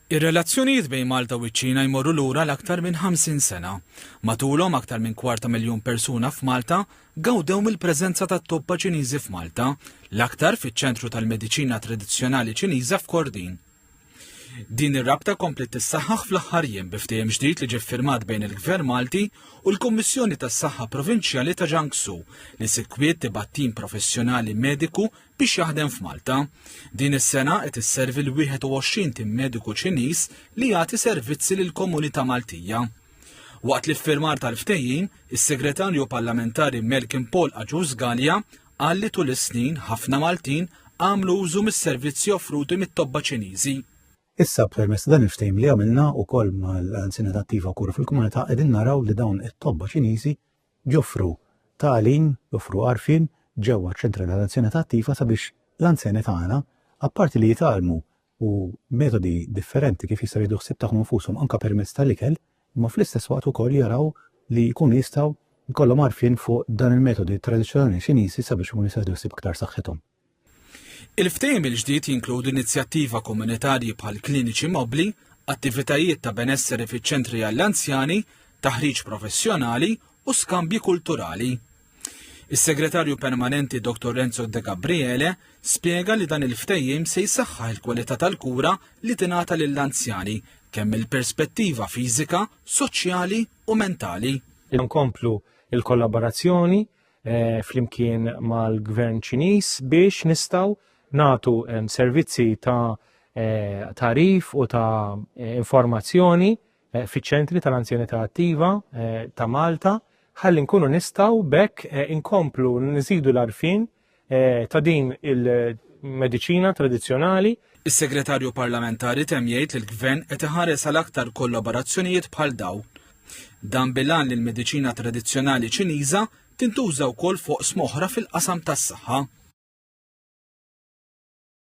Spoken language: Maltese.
Ir-relazzjonijiet bejn Malta u ċ-Ċina jmorru lura l-aktar minn 50 sena. Matulhom aktar minn kwart ta' miljun persuna f'Malta gawdew mill-preżenza tat-tobba Ċiniżi f'Malta, l-aktar fiċ-Ċentru tal-Mediċina Tradizzjonali Ċiniża f'Kordin. Din ir-rabta kompliet tissaħħaħ fl-aħħar jiem bi ftehim ġdid li ġie ffirmat bejn il-Gvern Malti u l-Kummissjoni tas-Saħħa Provinċjali ta' Jiangsu li sikwit tibgħat tim professjonali mediku biex jaħdem f'Malta. Din is-sena qed isservi l-21 tim mediku Ċiniż li jagħti servizzi lill-komunità Maltija. Waqt li firmar tal-ftehim, is-Segretarju Parlamentari Melkin Paul Aġus Gallia qal li tul is-snin ħafna Maltin għamlu użu mis-servizzi offruti mit-tobba Ċiniżi. Issa permess dan il-ftehim li għamilna u koll mal-anzina attiva kura fil-komunità qegħdin naraw li dawn it-tobba Ċiniżi joffru tagħlim, joffru għarfien ġewwa ċ-Ċentri tal-Anzjanità Attiva sabiex l-anzjani tagħna, apparti li jitgħallmu u metodi differenti kif jistgħu jieħdu ħsieb tagħhom infushom anke permezz tal-ikel, imma fl-istess waqt ukoll jaraw li jkunu jistgħu jkollhom għarfien fuq dan il-metodi tradizzjonali Ċiniżi sabiex ikunu jistgħu jieħdu ħsieb iktar saħħithom. Il-ftehim il-ġdid jinkludi inizjattiva Komunitarji bħal kliniċi mobbli, attivitajiet ta' benesseri fiċ-ċentri għall-anzjani, taħriġ professjonali u skambji kulturali. Is-Segretarju Permanenti Dr. Renzo De Gabriele spjega li dan il-ftehim se jsaħħaħ il-kwalità tal-kura li tingħata lill-anzjani kemm mill-perspettiva fiżika, soċjali u mentali. Inkomplu il-kollaborazzjoni eh, flimkien mal-gvern ċiniż biex nistaw natu eh, servizzi ta' eh, tarif u ta' informazzjoni fiċ-ċentri tal-anzjanità attiva ta' Malta ħalli nkunu nistaw bekk inkomplu nżidu l-arfin ta' din il-medicina tradizjonali Is-Segretarju Parlamentari temm jgħid li l-Gvern qed iħares għal aktar kollaborazzjonijiet bħal dawn. Dan bil-għan li l-mediċina tradizzjonali Ċiniża tintuża wkoll f'oqsma oħra fil-qasam tas-saħħa.